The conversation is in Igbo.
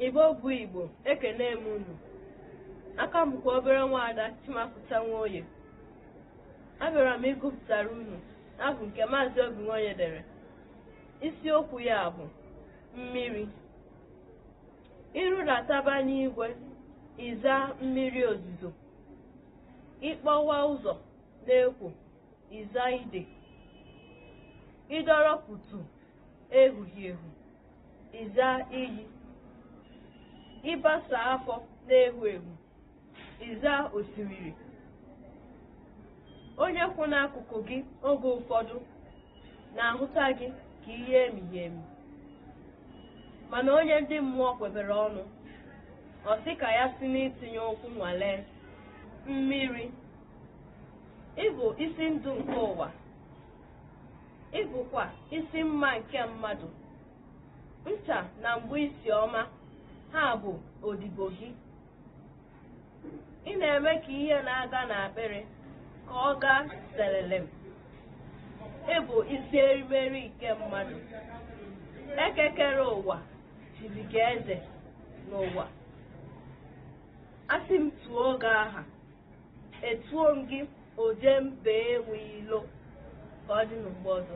Igbo bụ Igbo, ekene m unu. Aha m bụkwa obere nwaada Chimapụta Nwoye. Abịara m ịgụpụtara unu abụ nke Maazị Obi Nwoye dere. Isiokwu ya bụ mmiri. I rudataba n'igwe ị zaa mmiri ozuzo. Ị kpọwa ụzọ na-ekwo ị zaa ide. Ị dọrọ pụtụ ehughị ehu. Ị zaa iyi. Ị basaa afọ na-ehu ehu. Ị zaa osimiri. Onye kwụ n'akụkụ gị oge ụfọdụ na-ahụta gị ka ihe emighị emi. Mana onye ndị mmụọ kwebere ọnụ, ọ sị ka ya si n'itinye ụkwụ nwalee. Mmiri, ị bụ isi ndụ nke ụwa. Ị bụkwa isi mma nke mmadụ. Ncha na mgba isi ọma ha bụ odibo gị. Ị na-eme ka ihe na-aga n'akpịrị ka ọ gaa selelem. Ị bụ isi erimeri nke mmadụ. Eke kere ụwa chiri gị eze n'ụwa. A sị m tuo gị aha. Etuo m gị oje mba enwe ilo ka ọ dị n'ugbo ọzọ.